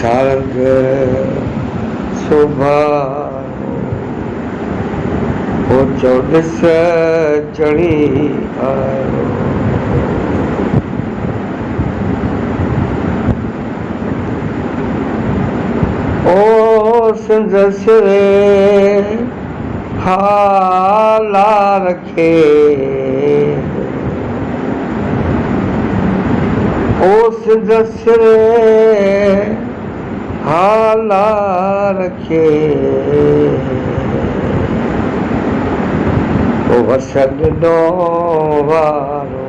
ساڳ سوڀا ٿو پوچو ڏس چڙهي آيو. او سنڌ سري ها لار کي او سنڌ سر هالار کي وس ڏنو وارو.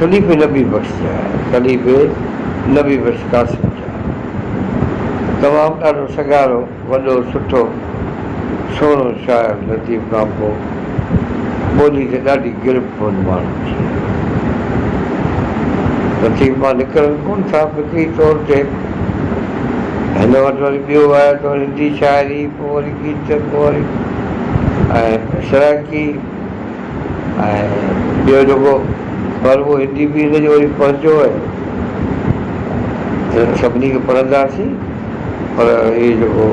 خليفي نبي بخش جا خليفي نبي بخش قاسم جا تمام ڏاڍو سگهارو وڏو سٺو سهڻو شاعر لطيف کانپو ٻولي کي ڏاڍي گرفت هن ماڻهن جي لطيف مان نڪرن ڪون ٿا فڪري طور تي هن وٽ وري ٻيو آهي ته وري هندي شاعري پوء وري گيت پوء وري ۽ سرائڪي ۽ ٻيو جيڪو پڙهبو هندي به هن جو وري پرچو آهي ته سڀني کي پڙهنداسين پر هي جيڪو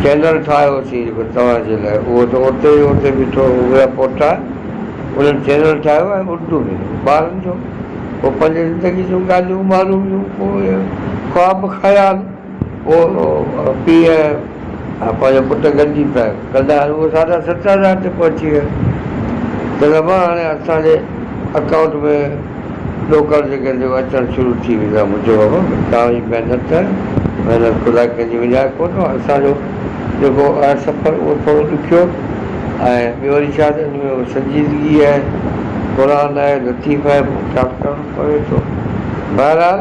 چينل ٺاهيوسين جيڪو توهان جي لاء اهو ته اتي جو اتي بيٺو ويا پوٽا انهن چينل ٺاهيو آهي اردو ۾ ٻارن جو پوء پنهنجي زندگي جون ڳالهيون مالوميون پوء خواب خيال پوء پيء ۽ پنهنجو پٽ گڏجي پيا ڪندا آهن اهي ساڍا ست هزار تي پهچي ويا ته ربا هاڻي اسان جي اڪائونٽ ۾ ڏوڪڙ جيڪي ٿيو اچڻ شروع ٿي ويندا مون چيو بابا توهان جي محنت ته محنت خدا ڪنهن جي وڃائي ڪو نه اسان جو جيڪو آهي سفر اهو ٿورو ڏکيو ۽ ٻيو وري ڇا ته ان ۾ سنجيدگي آهي قرآن آهي لطيف آهي پوء خيال ڪرڻو پوي ٿو بهرحال